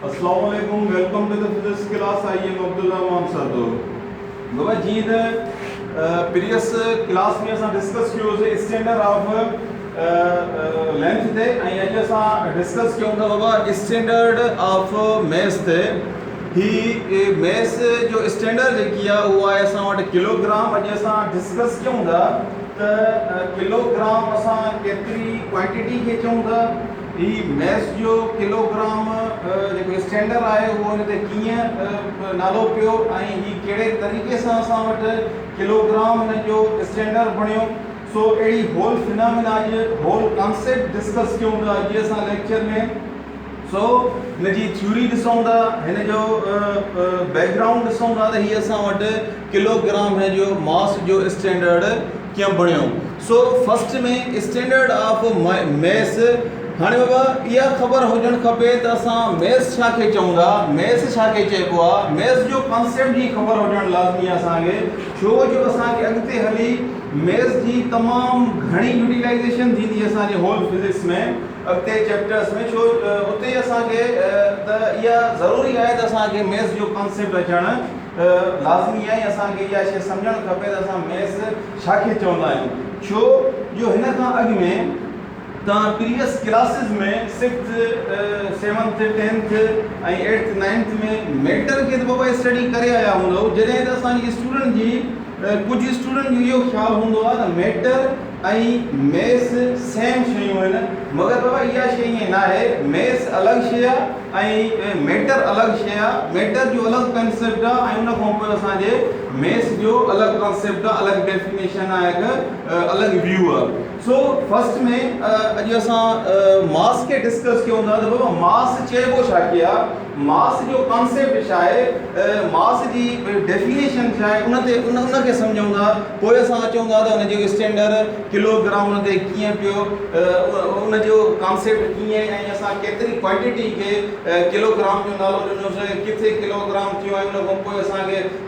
اسلام عليڪم welcome to the physics class I am Abdulrahman سردو بابا جي ته پريس ڪلاس ۾ اسان ڊسڪس ڪيو هوسي اسٽينڊر آف لينٿ تي ۽ اڄ اسان ڊسڪس ڪيون ٿا بابا اسٽينڊرڊ آف ميس تي هي ميس جو اسٽينڊرڊ جيڪي آ اهو آهي اسان وٽ ڪلوگرام اڄ اسان ڊسڪس ڪيون ٿا ته ڪلو گرام اسان ڪيتري ڪوانٽيٽي کي چئون ٿا هي ميس جو ڪلو گرام جيڪو اسٽينڊر آهي اهو هن تي ڪيئن نالو پيو ۽ هي ڪهڙي طريقي سان اسان وٽ ڪلو گرام هن جو اسٽينڊر بڻيو سو اهڙي هول فنامينا اڄ هول ڪانسيپٽ ڊسڪس ڪيون ٿا اڄ اسان ليڪچر ۾ سو هن جي ٿيوري ڏسون ٿا هن جو بيڪ گرائونڊ ڏسون ٿا ته هي اسان وٽ ڪلو گرام هن جو ماس جو اسٽينڊرڊ ڪيم بڻيو so first ۾ standard of mass هاڻي بابا اها خبر هجڻ کپي ته اسان ميس ڇا کي چئون ٿا ميس ڇا کي چئبو آ ميس جو ڪانسيپٽ جي خبر هجڻ لازمي آ اسان کي ڇو جو اسان کي اڳتي هلي ميس جي تمام گهڻي يوٽيلائيزيشن ٿيندي اسان جي هول فزڪس ۾ اڳتي چيپٽرس ۾ ڇو اتي اسان کي ته اها ضروري آهي ته اسان کي ميس جو ڪانسيپٽ اچڻ ته لازمي اهي اسان کي اها شيء سمجهڻ کپي ته اسان ميس ڇا کي چوندا آهيون ڇو جو هن کان اڳ ۾ توهان previous classes ۾ sixth seventh tenth ۽ eighth ninth ۾ matter کي ته بابا اسٽڊي ڪري آيا هوندؤ جڏهن ته اسان جي اسٽوڊنٽ جي ڪجهه اسٽوڊنٽ جو اهو خيال هوندو آهي ته ميٽر ۽ ميس سيم شيون آهن مگر بابا اها شي ائين ناهي ميس الڳ شي آهي ۽ ميٽر الڳ شي آهي ميٽر جو الڳ ڪنسيپٽ آهي ۽ ان کان پوء اسان جي ميس جو الڳ ڪنسيپٽ آهي الڳ ڊيفينيشن آهي هڪ الڳ ويو آهي سو فرسٽ ۾ اڄ اسان ماس کي ڊسڪس ڪيون ٿا ته بابا ماس چئبو ڇا کي آهي ماس جو ڪانسيپٽ ڇا آهي، ماس جي ڊيفينيشن ڇا آهي ان تي ان ان کي سمجهون ٿا پوء اسان اچون ٿا ته ان جو اسٽينڊر ڪلو گرام ان تي ڪيئن پيو ان جو ڪانسيپٽ ڪيئن ۽ اسان ڪيتري ڪوانٽيٽي کي ڪلو گرام جو نالو ڏنوسي ڪٿي ڪلو گرام ٿيو ۽ ان کان پوء اسان کي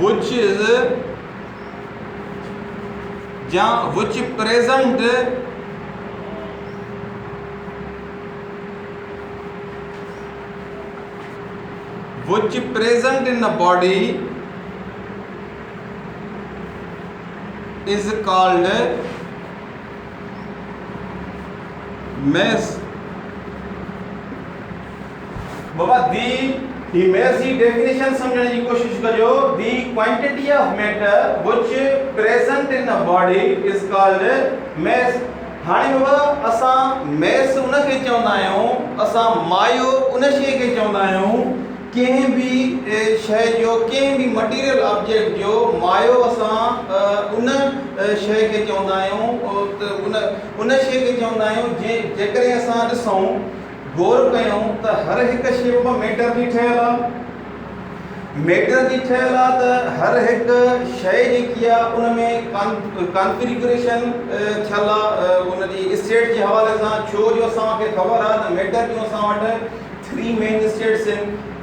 وچ از يا which present which present in a body is called mass بابا دي ايميرجي ڊيفينيشن سمجهڻ جي ڪوشش ڪجو the quantity of matter which present in a body is called mass هاڻي بابا اسان ميس ان کي چوندا آهيون اسان مايو ان شي کي چوندا آهيون ڪنهن به شي جو ڪنهن به مٽيريل آبجيڪٽ جو مايو اسان ان شي کي چوندا آهيون ان شي کي چوندا آهيون جي جيڪڏهن اسان ڏسون غور ڪيون ته هر هڪ شيپ مان ميٽر جي ٺهيل آ ميٽر جي ٺهيل آ ته هر هڪ شئي جيڪي آ ان ۾ ڪانفيگريشن ٿيل آ ان جي اسٽيٽ جي حوالي سان ڇو جو اسان کي خبر آ ته ميٽر جون اسان وٽ ٿري مين اسٽيٽس آهن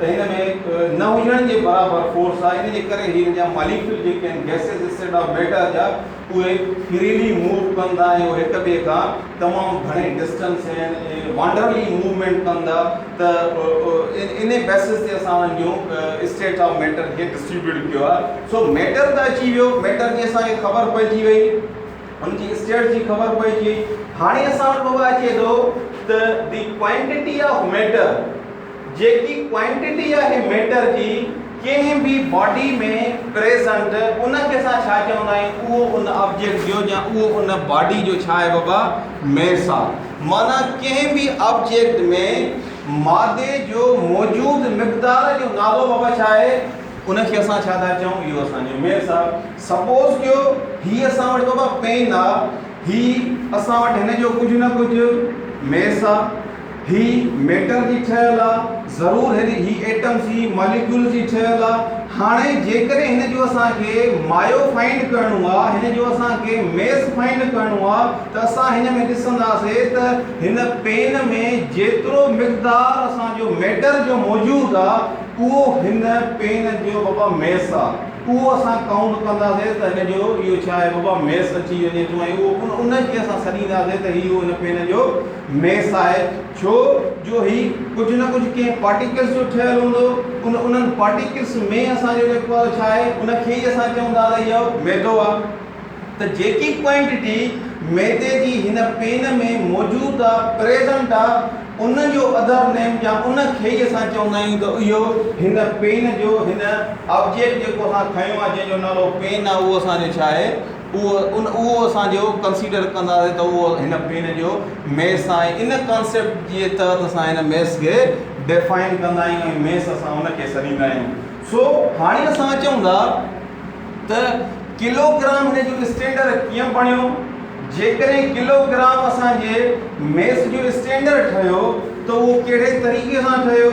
ته هن ۾ نه هجڻ جي برابر فورس آهي ان جي ڪري هن جا ماليڪيول جيڪي آهن گئسز اسٽيڊ آف ميٽر جا اهي فريلي موو ڪن ٿا ۽ اهي هڪ ٻئي کان تمام گهڻي ڊسٽنس ۽ وانڊرلي موومينٽ ڪن ٿا ته انهي بيسز تي اسان انهن جون اسٽيڊ آف ميٽر کي ڊسٽريبيوٽ ڪيو آهي سو ميٽر ته اچي ويو ميٽر جي اسان کي خبر پئجي وئي ان جي اسٽيڊ جي خبر پئجي وئي هاڻي اسان وٽ بابا اچي ٿو ته دي ڪوانٽيٽي آف ميٽر جيڪي ڪوانٽيٽي آهي ميٽر جي ڪنهن به باڊي ۾ پريزنٽ ان کي اسان ڇا چوندا آهيون اهو ان آبجيڪٽ جو يا اهو ان باڊي جو ڇا آهي بابا ميس آ معنيٰ ڪنهن به آبجيڪٽ ۾ مادي جو موجود مقدار جو نالو بابا ڇا آهي ان کي اسان ڇا ٿا چئون اهو اسان جو ميس آ سپوز ڪيو هي اسان وٽ بابا پين آ هي اسان وٽ هن جو ڪجهه نه ڪجهه ميس آ هي ميٽر جي ٺهيل آ ضرور هري هي ايٽم سي ماليڪيول جي ٺهيل آ هاڻي جيڪڏهن هن جو اسان کي مايو فائنڊ ڪرڻو آ هن جو اسان کي ميس فائنڊ ڪرڻو آ ته اسان هن ۾ ڏسندا سي ته هن پين ۾ جيترو مقدار اسان جو ميٽر جو موجود آ اهو هن پين جو بابا ميس آ اهو اسان ڪائونٽ ڪندا سي ته هن جو اهو ڇا آهي بابا ميس اچي وڃي ٿو ۽ اهو ان کي اسان سڏيندا سي ته هي هن پين جو مير صاحب، ڇو جو هي ڪجهه نه ڪجهه ڪنهن پارٽيڪلس جو ٺهيل هوندو، ان انهن پارٽيڪلس ۾ اسان جو جيڪو اهو ڇا آهي، ان کي ئي اسان چئون ٿا ته اهو ميدو آهي. ته جيڪي ڪوانٽيٽي ميدي جي هن پين ۾ موجود آهي، پريزنٽ آهي، ان جو اڌر نيم يا ان کي ئي اسان چوندا آهيون ته اهو هن پين جو هن آبجيڪٽ جيڪو اسان کنيو آهي، جنهن جو نالو پين آهي، اهو اسان جو ڇا آهي، اهو ان اهو اسان جو ڪنسيڊر ڪنداسين ته اهو هن پين جو ميس آهي ۽ ان ڪانسيپٽ جي تحت اسان هن ميس کي ڊيفائن ڪندا آهيون ۽ ميس اسان ان کي سڏيندا آهيون سو هاڻي اسان اچون ٿا ته ڪلو گرام هن جو اسٽينڊر ڪيئن بڻيو جيڪڏهن ڪلو گرام اسان جي ميس جو اسٽينڊر ٺهيو ته اهو ڪهڙي طريقي سان ٺهيو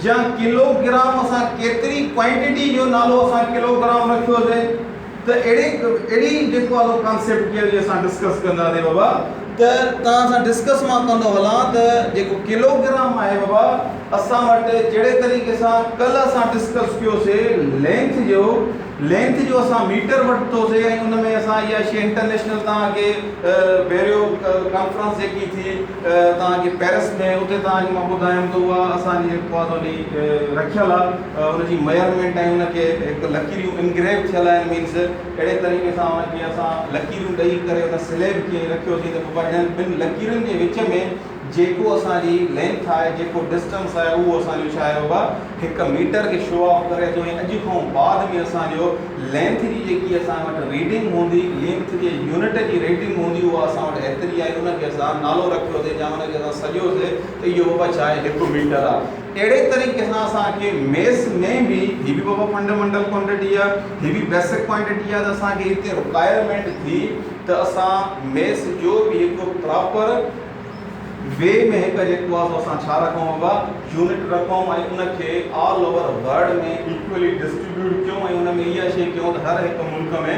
جا ڪلو گرام اسان ڪيتري ڪوانٽيٽي جو نالو اسان ڪلو گرام رکيوسي ته اهڙي اهڙي جيڪو آ سو ڪانسيپٽ جي اڄ اسان ڊسڪس ڪنداسين بابا ته توهان سان ڊسڪس مان ڪندو هلان ته جيڪو ڪلوگرام آهي بابا اسان وٽ جهڙي طريقي سان ڪلهه اسان ڊسڪس ڪيو سي لينٿ جو لينٿ جو اسان ميٽر وٺتو سي ۽ ان ۾ اسان اها شي انٽرنيشنل توهان کي بيريو ڪانفرنس جيڪي ٿي توهان کي پيرس ۾ اتي توهان کي مان ٻڌايم ته اها اسان جي جيڪو آ سو رکيل آ ان جي ميئرمينٽ ۽ ان کي هڪ لڪيريون انگريو ٿيل آهن مينز اهڙي طريقي سان ان کي اسان لڪيريون ڏئي ڪري ان سليب کي ائين رکيوسين ته بابا انهن ٻن لڪيرن جي وچ ۾ جيڪو اسان جي لينٿ آهي جيڪو ڊسٽنس آهي اهو اسان جو ڇا آهي بابا هڪ ميٽر کي شو آف ڪري ٿو ۽ اڄ کان بعد ۾ اسان جو لينٿ جي جيڪي اسان وٽ ريڊنگ هوندي لينٿ جي يونٽ جي ريڊنگ هوندي اها اسان وٽ ايتري آهي ان کي اسان نالو رکيوسي يا ان کي اسان سڏيوسي ته اهو بابا ڇا آهي هڪ ميٽر آهي. اهڙي طريقي سان اسان کي ميس ۾ به هي به بابا فنڊ منڊل ڪوانٽيٽي آهي هي به بيسڪ ڪوانٽيٽي آهي ته اسان کي هتي رڪوائرمينٽ ٿي ته اسان ميس جو به هڪ پراپر وي ۾ هڪ جيڪو آهي سو اسان ڇا رکون بابا يونٽ رکون ۽ ان کي all over world ۾ equally distribute ڪيون ۽ ان ۾ اها شي ڪيون ته هر هڪ ملڪ ۾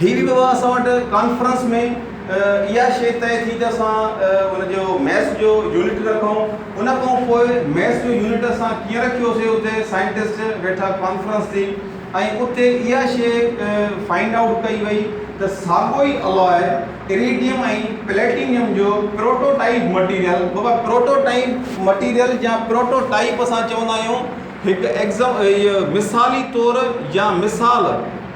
هي به بابا اسان وٽ ڪانفرنس ۾ اها شيء طئي ٿي ته اسان ان جو ميس جو يونٽ رکون. ان کان پوء ميس جو يونٽ اسان ڪيئن رکيوسي اتي سائنٽسٽ ويٺا ڪانفرنس ٿي ۽ اتي اها شيء فائنڊ آئوٽ ڪئي وئي ته ساڳيو ئي الاء اريڊيم ۽ پليٽينيم جو پروٽو ٽائيپ مٽيريل بابا پروٽو ٽائيپ مٽيريل يا پروٽو ٽائيپ اسان چوندا آهيون هڪ ايگزم مثالي طور يا مثال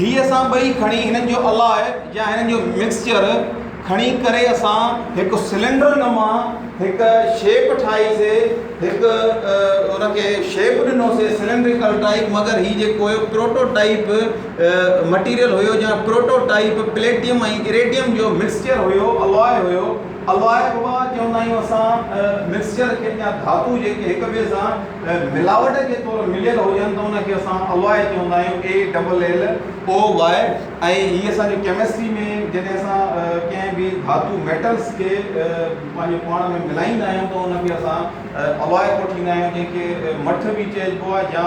هي اسان ٻئي کڻي هنن جو الاء يا هنن جو مڪسچر کڻي ڪري اسان هڪ سلينڊر نما هڪ شيپ ٺاهي سي هڪ ان کي شيپ ڏنو سي سلينڊريڪل ٽائيپ مگر هي جيڪو هيو پروٽو ٽائيپ مٽيريل هيو جا پروٽو ٽائيپ پليٽيم ۽ اريڊيم جو مڪسچر هيو الاء هيو الائي بابا چوندا آهيون اسان مڪسچر کي يا ڌاتو جيڪي هڪ ٻئي سان ملاوٽ جي طور مليل هجن ته ان کي اسان الائي چوندا آهيون ALLOY ۽ هي اسان جي ڪيمسٽري ۾ جڏهن اسان ڪنهن به ڌاتو ميٽلز کي پنهنجو پاڻ ۾ ملائيندا آهيون ته ان کي اسان الائي ڪوٺيندا آهيون جنهن کي مٺ به چئجبو آهي يا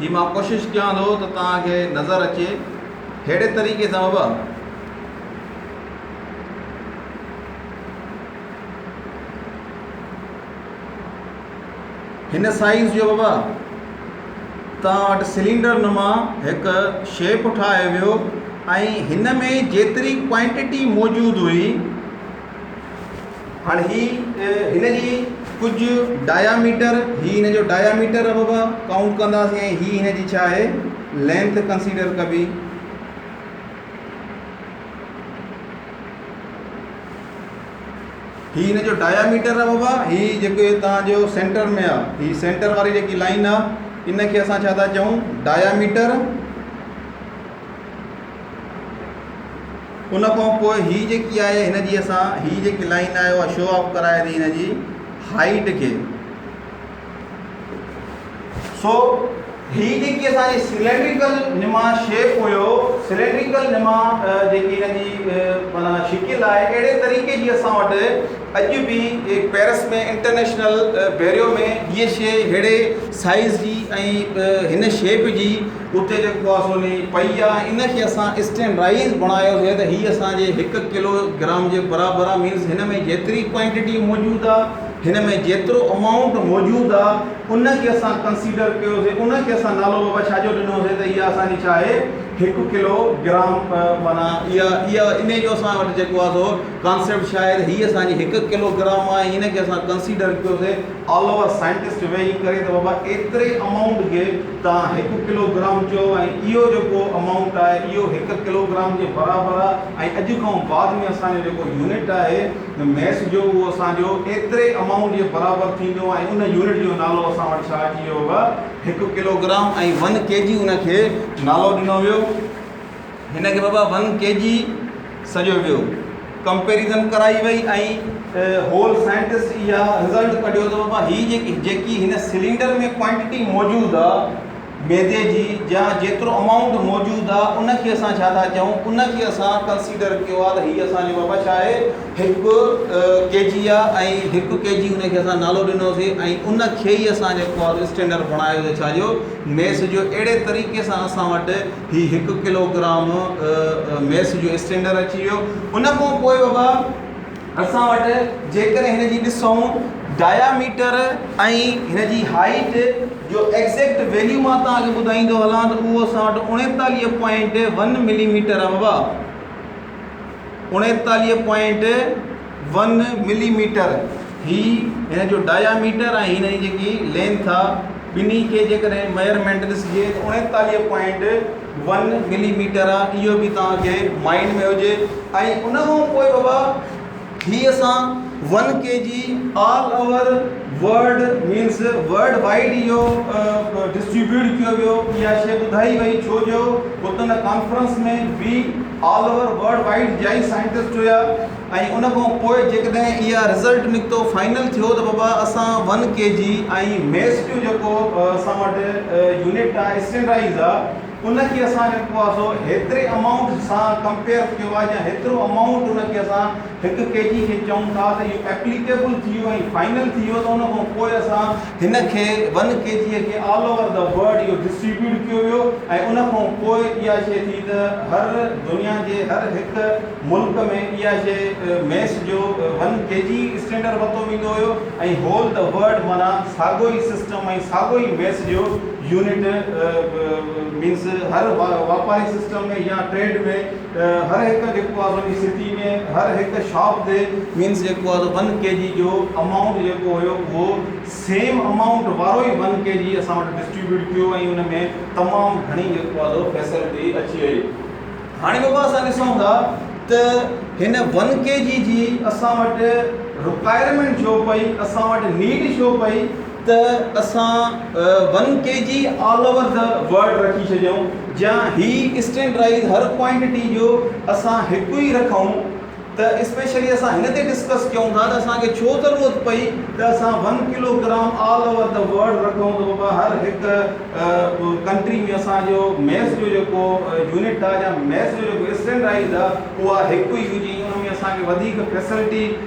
هي مان ڪوشش ڪيان ٿو ته توهان کي نظر اچي ههڙي طريقي سان به هن سائيز جو به توهان وٽ سلينڊر نما هڪ شيپ ٺاهي ويو ۽ هن ۾ جيتري ڪوانٽٽي موجود هئي هاڻ هي هن جي ڪجهه ڊايا ميٽر هي هن جو ڊايا ميٽر ابا ڪائونٽ ڪنداسين ۽ هي هن جي ڇا آهي لينٿ ڪنسيڊر ڪبي هي هن جو ڊايا ميٽر ابا بابا هي جيڪو تان جو سينٽر ۾ آ هي سينٽر واري جيڪي لائن آ ان کي اسان ڇا ٿا چئون ڊايا ميٽر ان کان پوء هي جيڪي آهي هن جي اسان هي جيڪي لائن آهي اها شو آف ڪرائي ٿي هن جي هائيٽ کي سو هي جيڪي اسان جي سلينڊريڪل نما شيپ هيو سلينڊريڪل نما جيڪي هن جي مانا شڪل آهي اهڙي طريقي جي اسان وٽ اڄ به پيرس ۾ انٽرنيشنل بيريو ۾ هيء شيء ههڙي سائيز جي ۽ هن شيپ جي اتي جيڪو آ سو ني پئي آ ان کي اسان اسٽين رائيز بڻايو سي ته هي اسان جي هڪ ڪلو گرام جي برابر آ مينس هن ۾ جيتري ڪوانٽيٽي موجود آ هن ۾ جيترو امائونٽ موجود آ ان کي اسان ڪنسيڊر ڪيو سي ان کي اسان نالو بابا ڇا جو ڏنو سي ته اها اسان جي ڇا آهي هڪ ڪلو گرام معنيٰ اها اها انهي جو اسان وٽ جيڪو آ سو ڪانسيپٽ ڇا آهي ته هي اسان جي هڪ ڪلو گرام آ ان کي اسان ڪنسيڊر ڪيو سي آل اوور سائنٽسٽ ويهي ڪري ته بابا ايتري امائونٽ کي تان هڪ ڪلو گرام چئو ۽ اهو جيڪو امائونٽ آهي اهو هڪ ڪلو گرام جي برابر آهي ۽ اڄ کان بعد ۾ اسان جو جيڪو يونٽ آهي ميس جو اهو اسان جو ايتري امائونٽ جي برابر ٿيندو ۽ ان يونٽ جو نالو اسان وٽ ڇا اچي ويو هڪ kilogram ۽ one K G ان کي نالو ڏنو ويو. هن کي بابا ون ڪي جي سڏيو ويو. ڪمپيريزن ڪرائي وئي ۽ هول سائنٽسٽ اها رزلٽ ڪڍيو ته بابا هي جيڪي هن سلينڊر ۾ ڪوانٽيٽي موجود آ ميدي جي يا جيترو امائونٽ موجود آ ان کي اسان ڇا ٿا چئون ان کي اسان ڪنسيڊر ڪيو آ ته هي اسان جو بابا ڇا آهي هڪ ڪي جي آ ۽ هڪ ڪي جي ان کي اسان نالو ڏنو سي ۽ ان کي ئي اسان جيڪو آ اسٽينڊر بڻايو سي ڇا جو ميس جو اهڙي طريقي سان اسان وٽ هي هڪ ڪلو گرام ميس جو اسٽينڊر اچي ويو ان کان پوء بابا اسان وٽ جيڪڏهن هن جي ڏسون ڊايا ميٽر ۽ هن جي هائيٽ جو ايگزيڪٽ ويليو مان تان اڄ ٻڌائيندو هلان ته اهو اسان وٽ اڻيتاليهه پوائنٽ ون ملي ميٽر آهي بابا اڻيتاليهه پوائنٽ ون ملي ميٽر هي هن جو ڊايا ميٽر ۽ هن جي جيڪي لينٿ آ ٻنهي کي جيڪڏهن ميئرمينٽ ڏسجي ته اڻيتاليهه پوائنٽ ون ملي ميٽر آ اهو به توهان کي مائنڊ ۾ هجي ۽ ان کان پوء بابا هي اسان one K G all over world means worldwide اهو ڊسٽريبيوٽ ڪيو ويو اها شيء ٻڌائي وئي ڇو جو هتن ڪانفرنس ۾ وي آل اوور ورلڊ وائيڊ جا ئي سائنٽسٽ هيا ۽ ان کان پوء جيڪڏهن اها رزلٽ نڪتو فائنل ٿيو ته بابا اسان one K G ۽ mass to جيڪو اسان وٽ يونٽ آهي اسٽينڊرائيز آهي ان کي اسان جيڪو آهي سو هيتري امائونٽ سان ڪمپيئر ٿيو آهي يا هيترو امائونٽ ان کي اسان هڪ ڪي جي کي چئون ٿا ته اهو ايپليڪيبل ٿي ويو ۽ فائنل ٿي ويو ته ان کان پوء اسان هن کي ون ڪي جي کي آل اوور دي ورلڊ اهو ڊسٽريبيوٽ ڪيو ويو ۽ ان کان پوء اها شيء ٿي ته هر دنيا جي هر هڪ ملڪ ۾ اها شيء ميس جو ون ڪي جي اسٽينڊر ورتو ويندو هيو ۽ هول دي ورلڊ معنيٰ ساڳو ئي سسٽم ۽ ساڳو ئي ميس جو يونٽ مينس هر واپاري سسٽم ۾ يا ٽريڊ ۾ هر هڪ جيڪو آهي سو سٽي ۾ هر هڪ شاپ تي مينس جيڪو آهي سو ون ڪي جي جو امائونٽ جيڪو هيو اهو سيم امائونٽ وارو ئي ون ڪي جي اسان وٽ ڊسٽريبيوٽ ٿيو ۽ ان ۾ تمام گهڻي جيڪو آهي سو فيسلٽي اچي وئي هاڻي بابا اسان ڏسون ٿا ته هن ون ڪي جي جي اسان وٽ رڪوائرمينٽ ڇو پئي اسان وٽ نيڊ ڇو پئي ته اسان one K G all over the world رکي ڇڏيون جيان هي اسٽينڊرائيز هر ڪوانٽيٽي جو اسان هڪ ئي رکون ته اسپيشلي اسان هن تي ڊسڪس ڪيون ٿا ته اسان کي ڇو ضرورت پئي ته اسان one kilogram all over the world رکون ته بابا هر هڪ ڪنٽري ۾ اسان جو ميس جو جيڪو يونٽ آ جا ميس جو جيڪو اسٽينڊرائيز آ اها هڪ ئي هجي ان ۾ اسان کي وڌيڪ فيسلٽي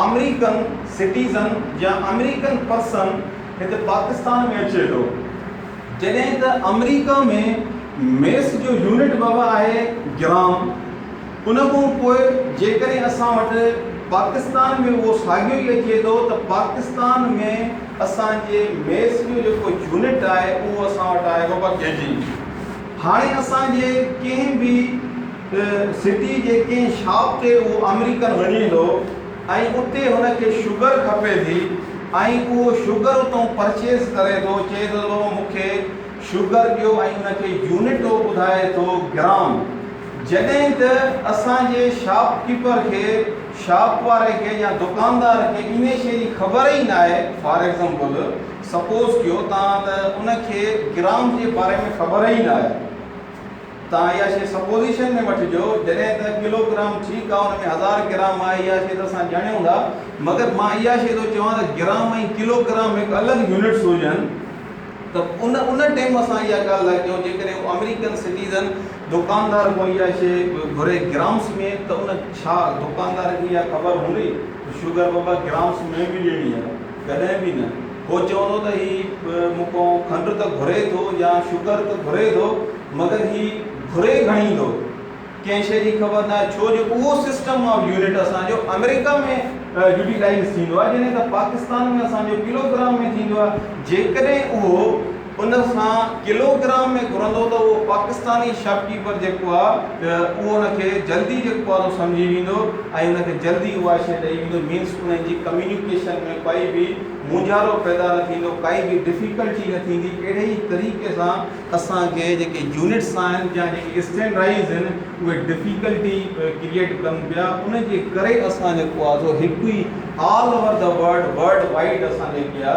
آمريڪن سٽيزن يا آمريڪن پرسن هتي پاڪستان ۾ اچي ٿو جڏهن ته آمريڪا ۾ ميس جو يونٽ بابا آهي گرام ان کان پوء جيڪڏهن اسان وٽ پاڪستان ۾ اهو ساڳيو ئي اچي ٿو ته پاڪستان ۾ اسان جي ميس جو جيڪو يونٽ آهي اهو اسان وٽ آهي بابا ڪيجي هاڻي اسان جي ڪنهن به ته سٽي جي ڪنهن شاپ تي اهو آمريڪن وڃي ٿو ۽ اتي هن کي شگر کپي ٿي ۽ اهو شگر اتئون پرچيز ڪري ٿو چئي ٿو ته مون کي شگر ڏيو ۽ ان کي يونٽ اهو ٻڌائي ٿو گرام جڏهن ته اسان جي شاپ ڪيپر کي شاپ واري کي يا دڪاندار کي انهي شئي جي خبر ئي ناهي فار ايگزامپل سپوز ڪيو تان ته ان کي گرام جي باري ۾ خبر ئي ناهي. تان اها شيء سپوزيشن ۾ وٺجو، جڏهن ته ڪلو گرام ٺيڪ آهي، ان ۾ هزار گرام آهي، اها شيء ته اسان ڄاڻيون ٿا، مگر مان اها شيء ٿو چوان ته گرام ۽ ڪلو گرام هڪ الڳ يونٽس هجن ته ان ان ٽيم اسان اها ڳالهه لاء ڪيون، جيڪڏهن هو آمريڪن سٽيزن دوڪاندار کان اها شيء گهري گرامس ۾ ته ان ڇا دوڪاندار کي اها خبر هوندي ته شوگر بابا گرامس ۾ به ڏيڻي آهي. ڪڏهن به نه. هو چوندو ته هي مون کان کنڊ ته گهري ٿو يا شڪر ته گهري ٿو، مگر هي گهري گهڻي ٿو. ڪنهن شيء جي خبر ناهي، ڇو جو اهو سسٽم آف يونٽ اسان جو آمريڪا ۾ يوٽيلائيز ٿيندو آهي، جڏهن ته پاڪستان ۾ اسان جو ڪلو گرام ۾ ٿيندو آهي. جيڪڏهن اهو ان کان ڪلو گرام ۾ گهرندو ته اهو پاڪستاني شاپ ڪيپر جيڪو آ ته اهو ان کي جلدي جيڪو آ سو سمجهي ويندو ۽ ان کي جلدي اها شيء ڏئي ويندو مينس انهن جي ڪميونيڪيشن ۾ ڪائي به مونجهارو پيدا نه ٿيندو ڪائي به ڊفيڪلٽي نه ٿيندي اهڙي ئي طريقي سان اسان کي جيڪي يونٽس آهن يا جيڪي اسٽينڊرائيز آهن اهي ڊفيڪلٽي ڪريئيٽ ڪن پيا ان جي ڪري اسان جيڪو آ سو هڪ ئي all over the world worldwide اسان جيڪي آ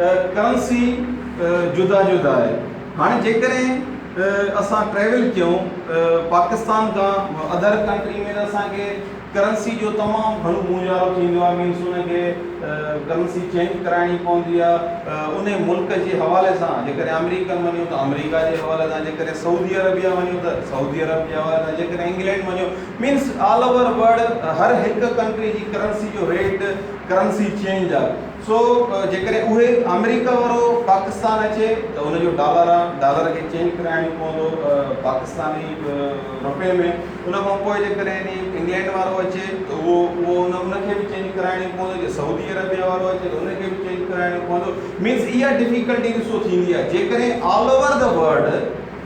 ڪرنسي جدا جدا آهي هاڻي جيڪڏهن اسان ٽريول ڪيون پاڪستان کان اڌر ڪنٽري ۾ ته اسانکي ڪرنسي جو تمام گهڻو مونجهارو ٿيندو آهي مينس ان کي ڪرنسي چينج ڪرائڻي پوندي آهي ان ملڪ جي حوالي سان جيڪڏهن آمريڪن وڃون ته آمريڪا جي حوالي سان جيڪڏهن سعودي عربيا وڃون ته سعودي عرب جي حوالي سان جيڪڏهن انگلينڊ وڃو مينس آل اوور ورلڊ هر هڪ ڪنٽري جي ڪرنسي جو ريٽ ڪرنسي چينج آهي سو جيڪڏهن اهي آمريڪا وارو پاڪستان اچي ته ان جو ڊالر آ ڊالر کي چينج ڪرائڻي پوندو پاڪستاني روپي ۾ ان کان پوء جيڪڏهن ني انگلينڊ وارو اچي ته اهو اهو ان ان کي به چينج ڪرائڻي پوندو جي سعودي عربيا وارو اچي ته ان کي به چينج ڪرائڻي پوندو مينز اها ڊفيڪلٽي ڏسو ٿيندي آ جيڪڏهن آل اوور دا ورلڊ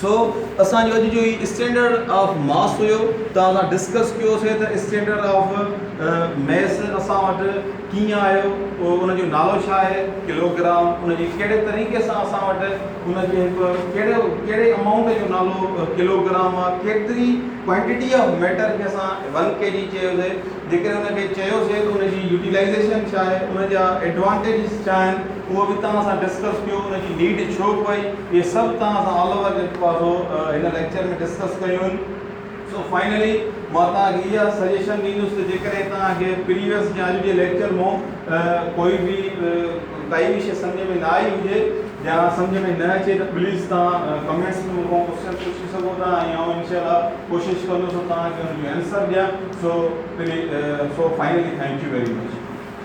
سو اسان جو اڄ جو هي اسٽينڊرڊ آف ماس هيو ته اسان ڊسڪس ڪيو سي ته اسٽينڊرڊ آف ميس اسان وٽ ڪيئن آيو ان جو نالو ڇا آهي ڪلو گرام ان جي ڪهڙي طريقي سان اسان وٽ ان جي هڪ ڪهڙو ڪهڙي امائونٽ جو نالو ڪلو گرام آ ڪيتري ڪوانٽيٽي آف ميٽر کي اسان ون ڪي جي چيو سي جيڪڏهن ان کي چيوسين ته ان جي يوٽيلائيزيشن ڇا آهي، ان جا ايڊوانٽيجز ڇا آهن، اهو به توهان سان ڊسڪس ڪيو، ان جي نيڊ ڇو پئي، اهي سڀ توهان سان آل اوور جيڪو آهي سو هن ليڪچر ۾ ڊسڪس ڪيون آهن. سو فائنلي مان توهان کي اها سجيشن ڏيندس ته جيڪڏهن توهان کي پريويس يا اڄ جي ليڪچر مون ڪوئي به ڪائي به شيء سمجهه ۾ نه آئي هجي، جا سمجهه ۾ نه اچي ته پليز توهان ڪمينٽس ۾ مون کان ڪوشچنس پڇي سگهو ٿا ۽ آئون انشاء الله ڪوشش ڪندس ته توهان کي ان جو اينسر ڏيان سو finally thank you very much.